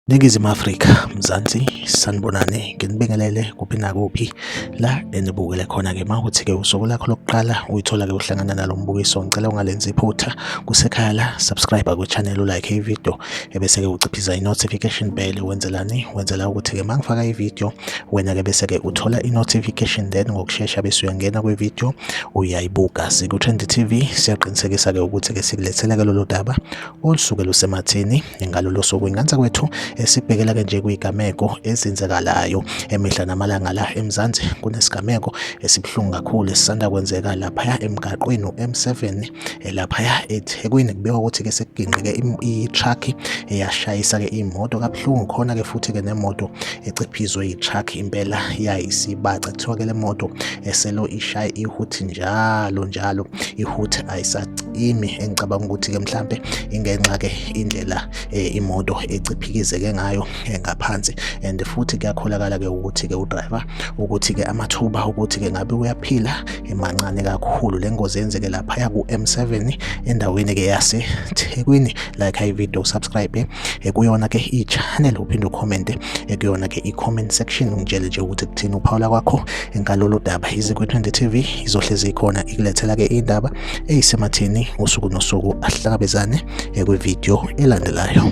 Ningizimu Afrika, Mzansi, sanibonane, nginibingelele kuphi nakuphi la enibukele khona-ke uma ukuthi-ke usuku lakho lokuqala uyithola-ke uhlangana nalo mbukiso, ngicela ungalenzi iphutha kusekhaya la, subscribe kwi-channel, ulike ividiyo ebese-ke uciphiza i-notification bell wenzelani wenzela ukuthi-ke uma ngifaka ividiyo wena-ke bese-ke uthola i-notification then ngokushesha bese uyangena kwividiyo uyayibuka siku-trend t v siyaqinisekisa-ke ukuthi-ke sikulethela-ke lolu daba olusuke lusemathini ngalolo suku ingansa kwethu esibhekela-ke nje kuyigameko ezenzekalayo emihla namalanga la emzansi kunesigameko esibuhlungu kakhulu esisanda kwenzeka laphaya emgaqweni u-m7 eh, laphaya eThekwini kubikwa ukuthi ke sekugingqike i-truck eyashayisa ke imoto kabuhlungu khona ke futhi ke nemoto eciphizwe i-truck impela yayisibaca kuthiwa ke le moto eselo ishaye ihuthi njalo njalo ihuthi ayisacimi engicabanga ukuthi ke mhlambe ingenxa ke indlela eh, imoto eciphikizeke ngayo eh, ngaphansi and futhi kuyakholakala ke ukuthi ke udriver ukuthi-ke amathuba ukuthi-ke ngabe uyaphila emancane kakhulu le ngozi yenzeke laphaya ku-M7 endaweni-ke yaseThekwini like ivideo subscribe ekuyona-ke i-channel uphinde ukhomente ekuyona-ke i-comment section ungitshele nje ukuthi kuthini uphawula kwakho ngalolu daba izikwe-20 TV izohlezi ikhona ikulethela-ke indaba eyisemathini usuku nosuku ahlangabezane kwivideo elandelayo